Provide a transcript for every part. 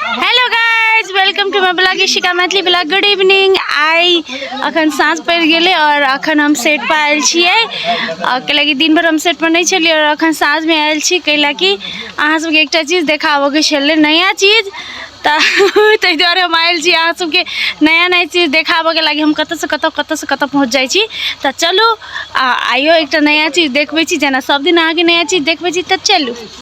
Hello guys welcome to my blog Ishika Maithili blog good evening आइ अखन साँझ पड़ि गेलै आओर अखन हम सेट पर आयल छियै आओर कैला कि दिन भर हम सेट पर नहि छलियै आओर अखन साँझमे आयल छी कैला कि अहाँ सबके एकटा चीज देखाबऽके छलै नया चीज तऽ ताहि दुआरे हम आयल छी अहाँ सबके नया नया चीज देखाबऽके लागि हम कतऽसँ कतऽ कतऽसँ कतऽ पहुँच जाइ छी तऽ चलू आ आइयो एकटा नया चीज देखबै छी जेना सब दिन अहाँके नया चीज देखबै छी तऽ चलू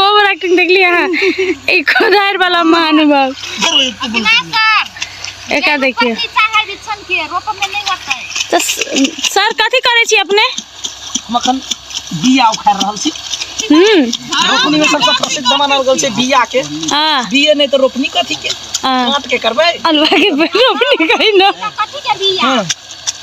ओवर एक्टिंग देख लिया हाँ। एक खुदार वाला महानुभव एक देखिए तो सर कथी करे छी अपने मखन बिया उखाड़ रहल छी हम्म। रोपनी में सबसे प्रसिद्ध मानल गेल छै बिया के हां बिया नै त रोपनी कथी के हां काट के करबै अलवा के रोपनी कहि न कथी के बिया हां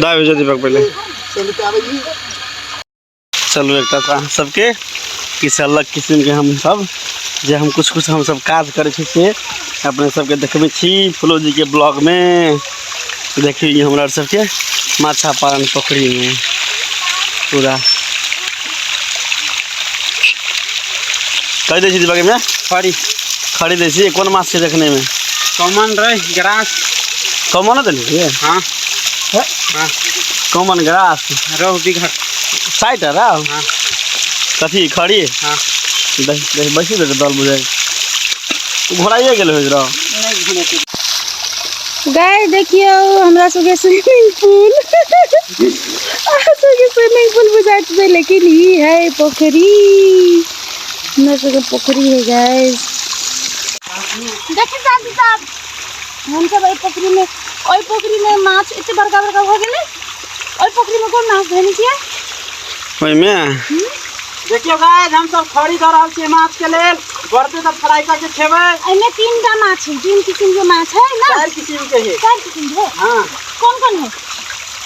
दाय भेज दीपक पहले चलू एक तऽ अहाँ सबके किछु अलग किसिमके हम सब जे हम कुछ कुछ हम सब काज करै छी से अपने सबके देखबै छी फुलोजीके ब्लॉगमे देखियौ ई हमरा सबके माछा पालन पोखरिमे पूरा कहि दै छी दीपकमे खड़ी खड़ी दै छी कोन माछ छै देखनेमे कॉमन रहे ग्रास कॉमन देने छियै हाँ हाँ कॉमन ग्रास रोहु बिघट साइट है राव हाँ कथी खड़ी हाँ बैसी दे दल बुझाइ घोड़ाइए गेल हो राव नहीं घूमे के गाय देखियो हमरा सबके स्विमिंग पूल अहाँ सबके स्विमिंग पूल बुझाइत छै लेकिन ई है पोखरी हमरा सबके पोखरी है गाइस देखिए चाची साहब हमसब एहि पोखरी में ओहि पोखरी में माछ एते बड़का बड़का हो गेलै ओहि पोखरी में कोन माछ धनी किया ओहिमे देखियो गाइस हम सब खड़ी कर रहल छी माछ के लेल बढ़ते तब फ्राई करके खेबै एहिमे तीन टा माछ है तीन किसिम के माछ है ना चार किसिम के है चार किसिम के हाँ कौन कौन है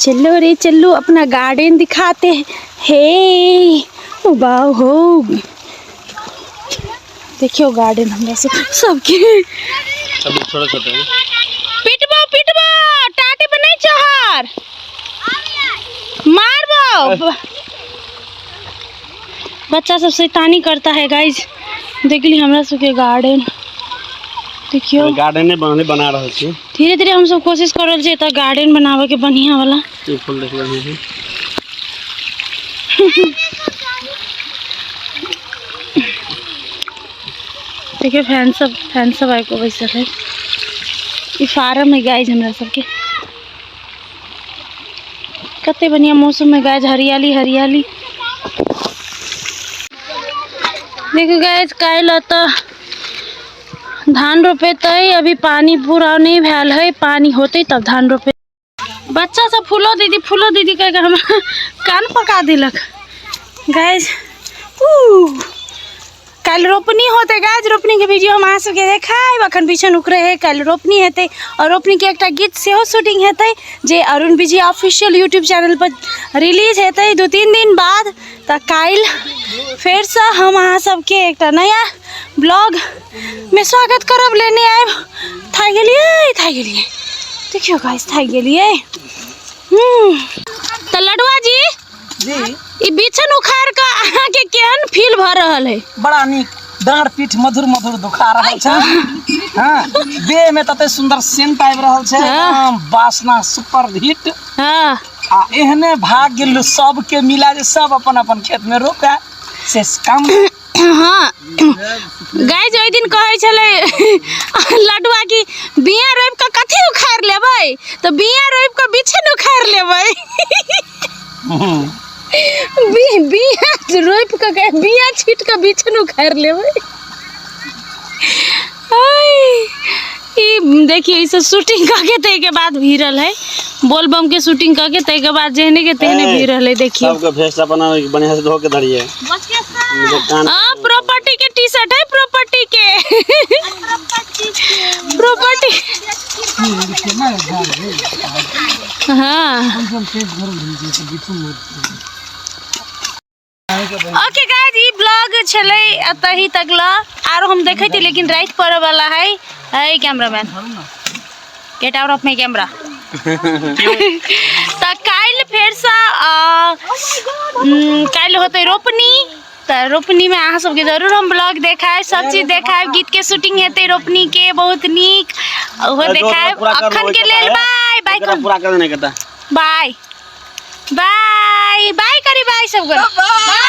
चलो रे चलो अपना गार्डन दिखाते हैं हे वाह हो देखियो गार्डन हमरा से सबके अभी छोटा छोटा है पिटबो पिटबो टाटी पर नहीं चहर मारबो बच्चा सब शैतानी करता है गाइज देखली हमरा सबके गार्डन देखियो गार्डन बना बना रहल छी धीरे धीरे हमसभ कोशिश कर रहल छियै एतऽ गार्डन बनाबे के बढ़िया वाला ई फूल देख लेने छी देखिए फैन सब फैन सब आबि कऽ बैसल है ई फार्म है गाय हमरा सबके कते बढ़िया मौसम में गाय हरियाली हरियाली देखियो गाय काल्हि एतऽ धान रोपेतै अभी पानी पूरा नहि भेल है पानी होतै तब धान रोपे बच्चा सब फूलो दीदी फूलो दीदी कह हम कान पका दिलक गाइज कल रोपनी होते गाज रोपनी के वीडियो हम अहाँ देखाब अखन पीछन उकरे है कल रोपनी हेतै और रोपनी के एक गीत से शूटिंग हेतै जे Arun Vijay official YouTube channel पर रिलीज हेतै दू तीन दिन बाद तऽ काल्हि फेरसँ हम अहाँ सबके एकटा नया ब्लॉगमे स्वागत करब लेने आयब थाकि गेलियै थाकि गेलियै देखियौ गाइस थाकि गेलियै हूँ तऽ लडुआ जी जी ई बिछन उखाड़ कऽ अहाँके केहन फील भऽ रहल है बड़ा नीक डाँड़ पीठ मधुर मधुर दुखा रहल छै हाँ देह में तते सुंदर सेंट आबि रहल छै हाँ। एकदम वासना सुपर हिट हाँ आ एहने भाग्य लो- सबके मिला जे सब अपन अपन खेत में रोपे से काम हाँ गाइज ओहि दिन कहै छलै लडुआ कि बिया रोपि कऽ कथी उखाड़ि लेबै तऽ बिया रोपि कऽ बिछन उखाड़ि लेबै बि- बिया रोपि कऽ के- बिया छीट कऽ बिछन उखाड़ि लेबै ई देखिए ई सब शूटिंग करके तय के बाद भी रहल है बोल बम के शूटिंग करके तय के बाद जेहने के तेहने भी रहल है देखिए सबके भेस अपना बढ़िया से धो के धरिए कान हां प्रॉपर्टी के टी शर्ट है प्रॉपर्टी के प्रॉपर्टी हां ओके गाइस ई ब्लॉग छलै एतहि तक ल आरो हम देखै छी लेकिन राति पड़े वाला है है cameraman get out of my camera तऽ काल्हि फेरसँ अ, उम, काल्हि होतै रोपनी तऽ रोपनीमे अहाँ सबके जरूर हम ब्लॉग देखायब सब चीज देखायब गीतके शूटिंग हेतै रोपनीके बहुत नीक ओहो देखायब अखनके लेल बाय बाय पूरा कर देने कहता बाय बाय बाय करी बाय सब कर बाय